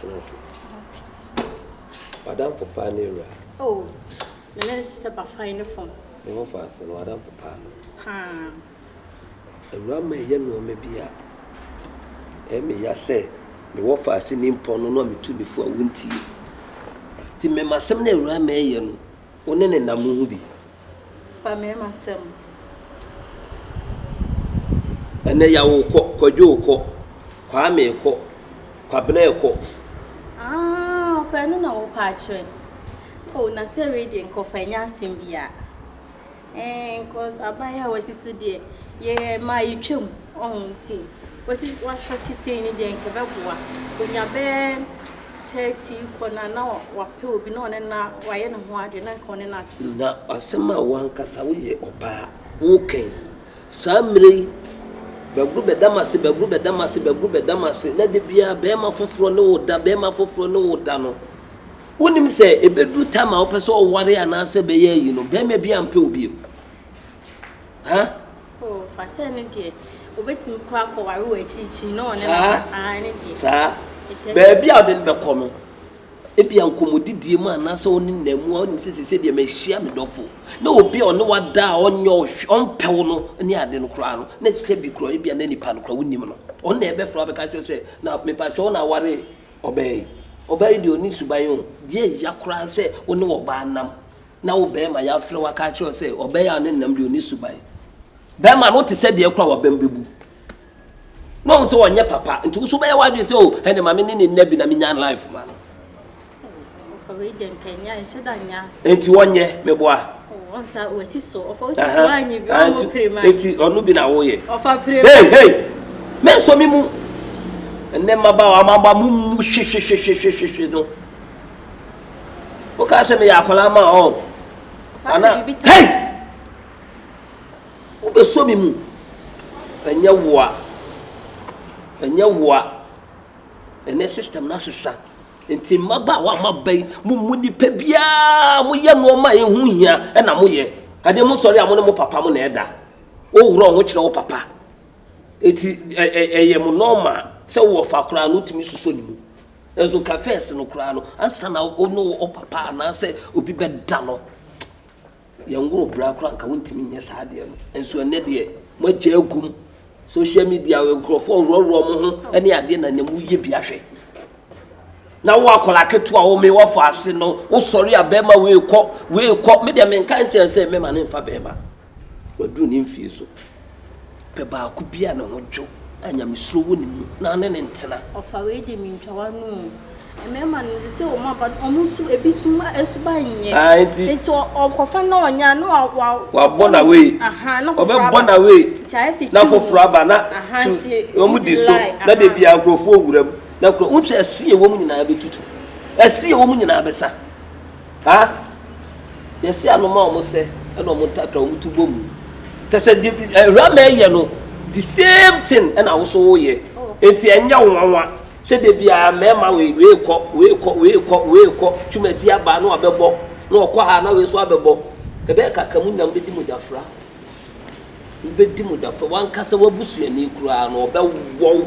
Tena ase. W'adamfo paa ne wura. Oh, me ne no te sɛ bafae ne fam. Ne ho fa ase no, w'adamfo paa no. Paa. Awura ma ɛyɛ nneɛma bi a ɛme ya sɛ mewɔ fa ase ne mpɔn no no a metu me fo a wontie. Nti mema asɛm no awura ma ɛyɛ no, wo ne ne nam ho bi. Fa me ma sɛm. Ɛnɛ yawo kɔ, kwadwoo kɔ, kwaamee kɔ, kwabenɛɛ kɔ. Aah ɔfa ɛno na wo pɛ akyerɛ. Oh na sɛ wei deɛ nka ɔfa ɛnyɛ asɛm biaa eeh cos aban a wasi so deɛ yɛ ma yɛtwam oh nti wasi wasa sisei no deɛ nka ɛbɛboa onya bɛɛ. 30 kɔ no a, na wapɛ obi na ɔne no wayɛ ne ho ade, na anka ɔne no ate. Na asɛm a w'ankasa woyɛ ɔbaa woka yi, saa mmerɛ yi bɛgoro bɛda m'ase, bɛgoro bɛda m'ase, bɛgoro bɛda m'ase, na da biara barima foforɔ ne wo da, barima foforɔ ne wo da no, wonnim sɛ ɛbɛduru time a wopɛ sɛ ɔware anaasɛ ɛbɛyɛ ayi no, barima biara mpɛ wo bio? Hah? Oh, fa sɛ ɛno deɛ, obetumi kɔ akɔware wɔ akyirikyiri na ɔne no Saa, aka. Ah, ɛno deɛ. saa. It is. Baabi a ɔde no bɛkɔ no, ebia nkɔmmɔdidie mu anaasɛ wo ne no nna mu a, wonim sɛ seesei deɛ mahyia me dɔfo. Na obi a ɔne wo ada a ɔnyɛ wo hwee, ɔmpɛ wo no ne ade no koraa no, na sɛ bi koraa ebia na nipa no koraa wonnim no. Ɔno na ɛbɛfrɛ wo abɛka akyerɛ wo sɛ, na mepatwɔ wo na aware ɔbaa yi. Ɔbaa yi deɛ ɔnni suban o. Deɛ ɛya koraa sɛ wo ne ɔbaa nam. na wo barima yɛafrɛ wo aka akyerɛ wo sɛ ɔbɛn a ne nam deɛ ɔni suban. Barima no wote sɛ deɛ koro a wabam bɛbu. Na ɔhu sɛ ɔnyɛ papa nti wo so bɛyɛ w'adwene sɛ o oh, ɛne ma me ne ne nna bi na menya life ma no. Nti wɔnyɛ meboa. Nti ɔno bi na woyɛ. Hei hei me nso me mu. Ɛnɛ mmabaawa amaba mu mu hwehwehwehwehwehwe no. wokaa sɛ meyɛ akwadaa ma ɔ ana hei wobɛsɔ me mu ɛnyɛ woa ɛnyɛ woa ɛnɛ system no asesa nti mmaba a wama ba yi mo mu nipa biara moyɛ nneɛma a ɛho hia ɛna moyɛ adeɛ mo sɔre a mo ne mo papa mo na ɛda woworɔ ho kyerɛ wo papa ɛti ɛyɛ mo nɔɔma sɛ wɔfa koraa no tumi susɔ ne mu Nanso nka fɛs no koraa no, ansa na wo ne wo papa anaasɛ obi bɛda no, yɛnworo bra koraa nka wontumi nyɛ saa adeɛ no. Nanso ɛnnɛ deɛ, moagya agum. Social media, nkurɔfoɔ worɔworɔ mo ho ne adeɛ na nea moyɛ bi ahwɛ. Na wo akwadaa ketewa a wɔmee wafɔ ase no, wosɔre a bɛrima wei kɔ, wei kɔ. Me deɛ menka nkyerɛ sɛ mɛma no mfa bɛrima. Waduru ne mfie so. Pɛ baako bi a ne ho dwo, a nyamesuro wɔ ne mu, na ne no ntena. Ɔfa wei de mentwa w'ano o. Mmarima no, te sɛ wɔn aba no, wɔn su, ebi su ma asuba nyɛ. Ah, nti. Nti ɔkɔfa na ɔnya na wa wa. Wabɔ na wei. Aha, na foforɔ aba. Ɔbɛbɔ na wei. Nti ayɛ sɛ Na foforɔ aba na. Aha, nti. Wɔn di so na de bia nkurɔfoɔ wura mu na nkurɔ. Wohu sɛ ɛse a ɛwɔ mu nyinaa bɛtutu. Ɛse a ɛwɔ mu nyinaa bɛsa. Ha, yɛse anoma a wɔsɛ na wɔn ntakra wɔn ti bɔ mu. Kyɛ sɛ deɛ bi Rahman yɛ no the same thing na wo nso woyɛ. Enti ɛnyɛ wo nwanwa sɛ da biara mmarima wei wei kɔ wei kɔ wei kɔ wei kɔ Twumasi aba na wabɛbɔ na ɔkɔ ha na wei nso abɛbɔ. Ɛbɛyɛ kakra mo nyinaa mobɛdi mogyafra. Mobɛdi mogyafra. W'ankasa w'abusuani koraa no ɔbɛwɔ wo.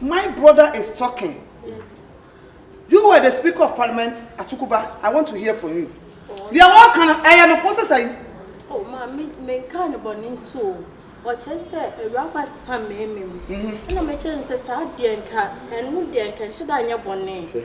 My brother is talking. You were the speaker of parliament Atukuba. I want to hear from you. Deɛ wɔka no ɛyɛ no kɔ sesa yi. Oh ma me me nka ne bɔ ne nso o. Ɔkyerɛ sɛ awuraba sesa mmarima mu. Ɛna mekyerɛ no sɛ saa deɛ nka ɛno deɛ nka nhyɛ da nyɛ bɔne.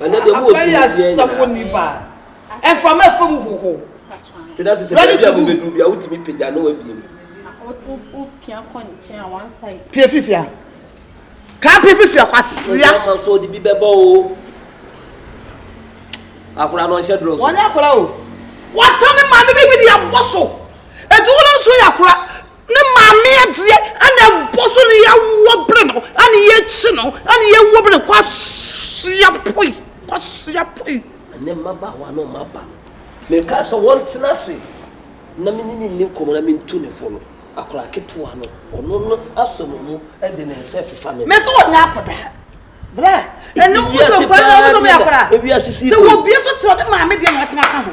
Na aban yɛ asesa wɔ ni ba. Mframa ɛfa mu hoho. Ready to do. Pie firi fie a. Kaa pie firi fie a kwasia. Wɔnyɛ akora o. Wɔatane maame bi bi de abɔ so. Eti wona nso yɛ akora. Ne maame adeɛ ɛna ɛbɔ so ne yɛawoɔ bere no ɛne yɛkyi no ɛne yɛwuo bere no kwasia poi kwasia poi. Ɛnɛ mmabaawa no mma ba mekaa sɛ wɔntena ase na me ne ne nni nkɔmmɔ na mentu ne fo no akwadaa ketewa no ɔno no asɔ me mu de ne nsa fifa me. Mese wɔnyɛ akwadaa bra ɛne wo de nkwadaa na wɔbɛtɔ me akwadaa sɛ wɔbie so te ɔde maame deɛ na watena ka ho.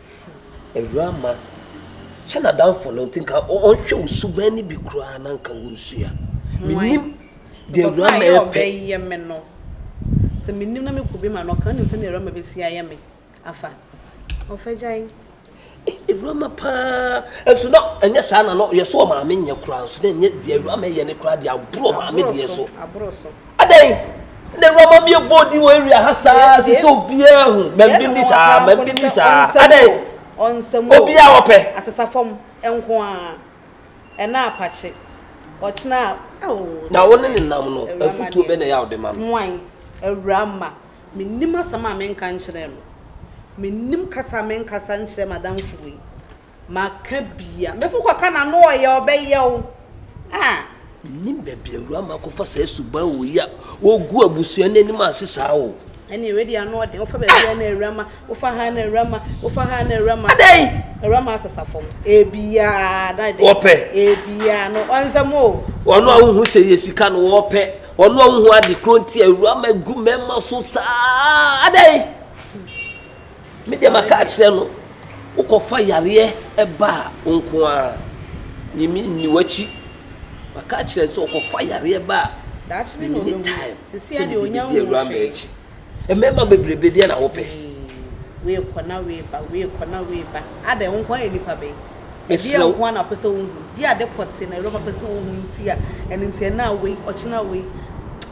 Awuraa mma, hyɛ n'adamfo no nti nka ɔnhwɛ wo suban no bi koraa na nka wonsua. Minnim deɛ awuraa mma yɛ pɛ. Yɛ me no. Sɛ mennim na mekɔ obi ma no, ɔka nim sɛdeɛ awuraa mma bɛsi ayɛ me afa. Ɔfa gyae. Eh, awuraa mma paa. Nso na ɛnyɛ saa na no, yɛ so ɔmaame nyɛ koraa nso na ɛnyɛ deɛ awuraa mma yɛ no koraa deɛ aboro ɔmaame deɛ so. Aboro so. Adɛn na awuraba mi ɛbɔ di wɔ area ha saa sɛ sɛ obiara hu mɛmbi ni saa mɛmbi ni saa adɛn obiara wɔpɛ. Asesafam nko ara ɛna apakye ɔkyena a. Na wo ne ne nam no afutuo bɛ na ɛyɛ a wode ma no. Hwan? Awura ma mennim asɛm a menka nkyerɛ no mennim kasa a menkasa nkyerɛ m'adamfo wei. Maka bia. Mesi wokɔka no ano ɔyɛ ɔbɛyɛ wo ah. Mennim baabi awura ma kɔfa saa suban wɔ yi a wɔgu abusua no anim ase saa o. Ɛne wei deɛ ano ɔden wofa baabi a na awura ma wofa ha na awura ma wofa ha na awura ma. Adɛn? Awura ma asesa fam ebia na ɛde. Wɔpɛ. Ebia no ɔnsɛm o. Wɔn a wohu sɛ yɛ sika no wɔpɛ wɔn a wohu ade koro nti awura ma gu mmarima so saa adɛn? Me deɛ maka akyerɛ no, wokɔfa yareɛ ba a, wo nko ara, me menni w'akyi. Maka akyerɛ no sɛ ɔkɔfa yareɛ ba a, me menni time sɛ mede bɛdi awura mmaa akyi. Mmarima bebrebe deɛ na wopɛ? Ɛdeɛn nko ara na wopɛ sɛ wohu? Bi a ade pɔtee na Awuraba pɛ sɛ ɔhu nti a ɛno nti ɛna a wei, ɔkyena wei.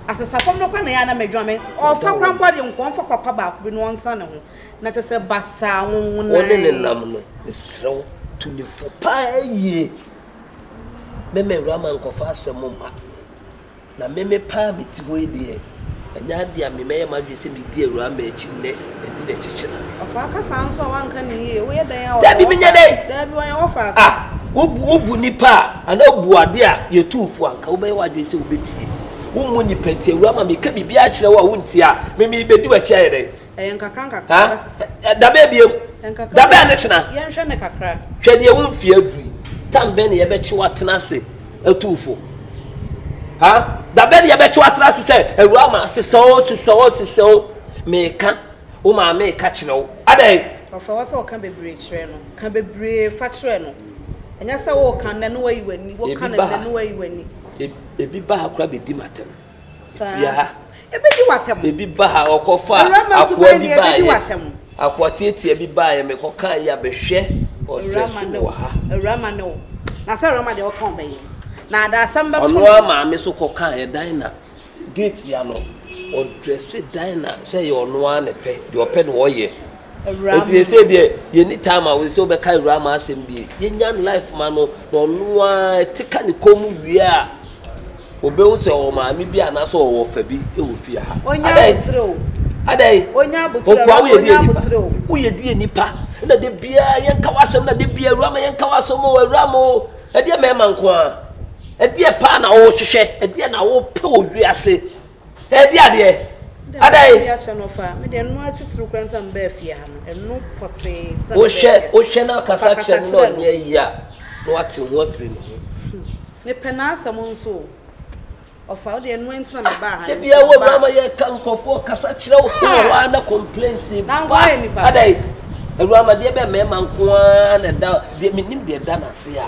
Asesa fam no koraa na ɛyɛ a na m'adwuma me, ɔfa koraa mpo a deɛ nka ɔmfa papa baako bi na ɔntena ne ho. Na kyerɛ sɛ basaa nwonwonae. Wo ne no nam no, mesrɛ wo tu no fo pa ara yie. Mɛma Awuraba nkɔfa asɛm mma. Na me me pɛ a mete hɔ yi deɛ, ɛnyɛ adeɛ a me mɛyɛ m'adwene sɛ medi Awuraa Mma akyi nnɛ, madi n'akyi kyena. Ɔfa aka saa nso a wanka no yie, woyɛ dɛn a ɔyɛ Dabi wɔfa menyɛ dɛn? Dabi ɔyɛ wɔfa ase. Ah, wobu wobu nnipa a anaa wobu adeɛ a yɛtu mfo a nka wobɛyɛ w'adwene sɛ wobɛtie. Wommu nnipa nti Awuraa Mma meka biribiara kyerɛ wo a wontie a, me merebɛdi w'akyi ayɛ dɛn? Ɛyɛ nkakrankakra na wasesa. Dabɛ abiem. Dabɛ ne kyena. Yɛnhwɛ ne kakra. Hwɛ deɛ wo mfeɛ aduru yi. Tam bɛn na yɛbɛkye wo atena ase atuu fo? Ha? Da bɛn na yɛbɛkye wo atena ase sɛ awura ma sesa o sesa o sesa o? Meka wo maame reka kyerɛ wo. Adɛn? Ɔfrɛ wo sɛ ɔka bebree kyerɛ no. Ka bebree fa kyerɛ no. Ɛnyɛ sɛ woka nnɛ na wayi w'ani, woka no nnɛ na wayi w'ani. Ebi ba ha koraa bɛdi m'atɛm. Saa. Ebedi w'atam. Ebi ba ha, ɔkɔfa akoa bi baeɛ. Akoa tiatia bi baeɛ, mekɔkaa yi a bɛhwɛ ɔdrɛse no wɔ ha. Awurama ne wo. Na sɛ awurama deɛ ɔka ɔbɛyɛ. Na ada asɛm bɛto no. Ɔno ara maame nso kɔkaeɛ Dina. Gate ya no, ɔdrɛse Dina sɛ ɛyɛ ɔno ara ne pɛ, deɛ ɔpɛ na ɔyɛ. awuraa mu no. Nti sesei deɛ yɛnni time a sɛ wobɛka awuraa mu asɛm bie. Yɛnya no life ma no na ɔno ara ɛte ka ne kɔn mu wie a, wobɛhu sɛ ɔwɔ maame bi anaasɛ ɔwɔ ɔfa bi wɔ fie ha. Ɔnnya abotire o. Adɛn? Ɔnnya abotire, awuraa ma ɔnnya abotire o. Nkoa woyɛ deɛ nnipa. Woyɛ deɛ nnipa na da biara yɛnka w'asɛm na da biara awuraa ma yɛnka w'asɛm o, awuraa ma o. Ɛdeɛ mmarima nko ara? Ɛdeɛ paa na wohwehwɛ? Ɛdeɛ na wopɛ wɔ wiase? Ɛdi adeɛ. Adɛn? Ɛdi akyɛ no fa. Me deɛ ɛno atitiriw koraa nti na mebaa fie ha no. Ɛno pɔtee nti na mebaa fie ha. Wohwɛ na ɔkasa kyerɛ no na ɔnyɛ ayi a, na watew ho afiri ne ho. Mepɛ n'asɛm nso o. Ɔfa, wo deɛ ɛno nti na mebaa ha no. Da biara wo awura ma yɛka nkurɔfo ɔkasa kyerɛ wo. Wowɔ hɔ ara na complaints ba. Na nkoa yɛ nipa. Adɛn? Awuramadeɛ bɛn mmarima nko ara na ɛda, deɛ menim deɛ ɛda n'ase a.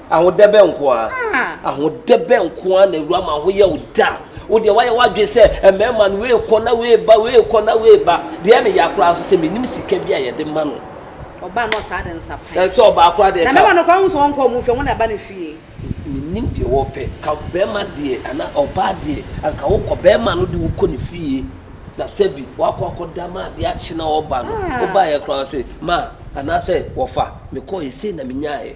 Ahodɛbɛ nko ara. Ah. Ahodɛbɛ nko ara na awura ma ho yɛ wo da. Wo deɛ wayɛ w'adwene sɛ mmarima no wei kɔ na wei ba wei kɔ na wei ba. Deɛ ɛyɛ me ya koraa nso sɛ menim sika bi a yɛde ma no. Ɔbaa no ɔsaa de nsa pan. Ɛsɛ ɔbaa koraa deɛ ka. Na mmarima no koraa wohu sɛ wɔnkɔ wɔn fie wɔn na ɛba ne fie. Menim deɛ wɔpɛ. Ka barima deɛ anaa ɔbaa deɛ anka wokɔ barima no de wokɔ ne fie na sɛbi wakɔ akɔda ma adeɛ akye na ɔreba no. Ah. Wobaeɛ koraa ɔse ma anaasɛ wɔfa mekɔeɛ sei na menyaaeɛ.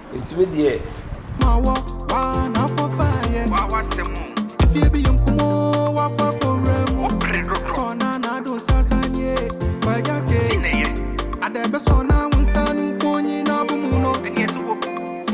Nti me deɛ. Ma wɔ wa na fɔ fa yɛ. Wa wa sɛ mo. Efie bi yɛ nkumo wa kɔ akɔ wura mu. O pere dɔdɔ. Sɔ na na do sasa nie. Wa ja ke. Ti na yɛ. Adɛ bɛ sɔ na wunsa nu konyi na bu mu no. Ɛni ɛti wo.